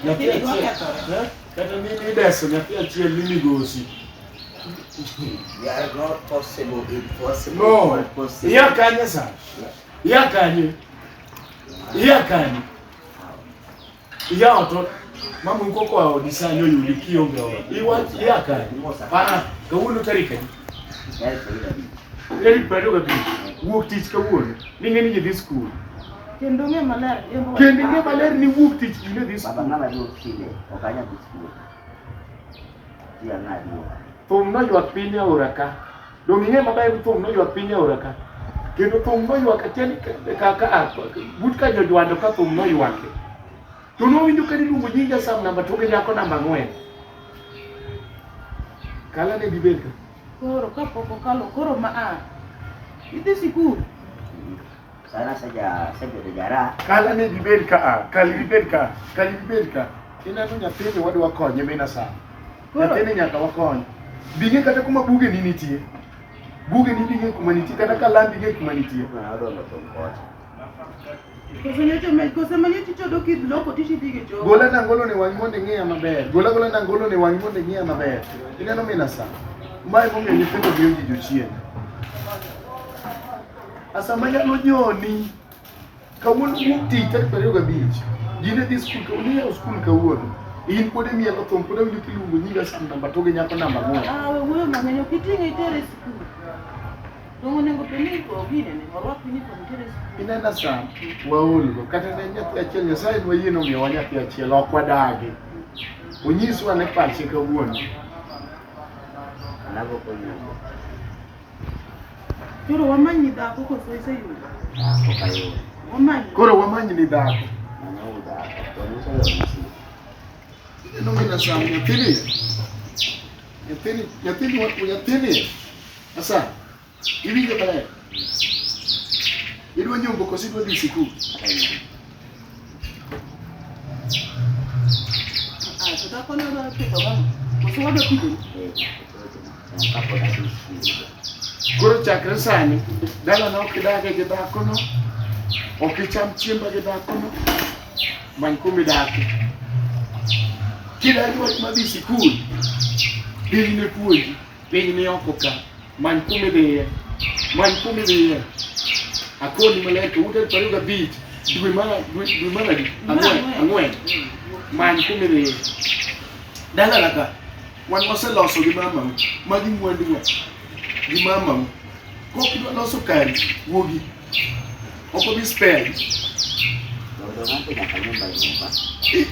Nyathi Lakini achiel- wakethore. eh, kata ni nideso nyathi achiel ni migosi They are not possible, impossible, no but possible. iya kanye sa iya kanye iya kanye iya oto mama ukoko aodisani oyudi kionge ora iwach iya kanye Mosa. Ah, kawuono tarik adi Eric Bado ka tich. Wuok tich kawuono. Ni ng'e ni ji dhi skul. Kendo ng'e maler. yembo- Kendo ing'e maler ni wuok tich ji ne dhi Baba skul. ng'ama duok shile, ok anyal dhi skul. Ji ang'a duok. Thum noywak piny e aora ka. Donge ing'e maber ni thum noywak piny e aora ka. Kendo thum noywak achiel ka ka ka but ka jojwando ka thum noywake. To nowinjo ka niluongo nying Jasam namba to gi nyako namba ang'wen. Kala ne dibed ka. Koro kapok okalo koro ma a idhi sikul. Sana saja sebedo jara. Kala ne dibed ka a kali dibed ka kali dibed ka. Ineno nyathini wadwa konye mina sa. Nyathini nyaka wakony. Bing'e kata kuma buge ni nitie. Buge ni bing'e kuma nitie kata kalam bing'e kuma nitie. Gola na ngolo ni wang' mondo ing'iya maber. Gola gola na ngolo ni wang' mondo ing'iya maber. Ineno mina sa. Mae momiyo nyithindo miyo ji jochiende. Asa manyalo nyoni kawuono wuok tich tarik ariyo gabich. Ji ne dhi skul kawuono, niyawo skul kawuono. In pod imielo thum, pod awinjo kiluongo nyinga skul namba to gi nyako namba ang'wen. Ah, we wuoyo mang'eny, ok iting'e itere skul. Inena sa waolgo kata ne nyathi achiel Nyasaye nwayie nomiyowa nyathi achiel ok wadagi. Onyiswa ne pache kawuono. Anago konyo. Koro wamanyi dhako koso iseyudo? Okayudo. Wamanyi. Koro wamanyi ni dhako. Manyawu dhako. Onyisa yo misi. Ineno gina sa nyathini. Nyathini, nyathini, nyathini. Sasa iwinjo maler, idwa nyombo koso idwa dhi sikul? Koro chakre sani dalana ok idage gi dhakono, ok icham chiemba gi dhakono, many kumidake. Kidagi wach madhi sikul, dhi ne puonji Piny ni oko ka, many kuma idhiye, many kuma idhiye. Akoni maler to ute pariyo gabich dwe mar dwe dwe mar adi? Ang'wen, ang'wen. Many kuma idhiye. Dala laka, wan waseloso gi mamau, magi mwanduwa gi mamau. Kok idwa loso kari, wuogi Oko bi spell.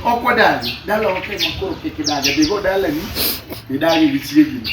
Ok wadagi, dala ok ema koro kik idagi, dhigo dalani idagi gi chiegini.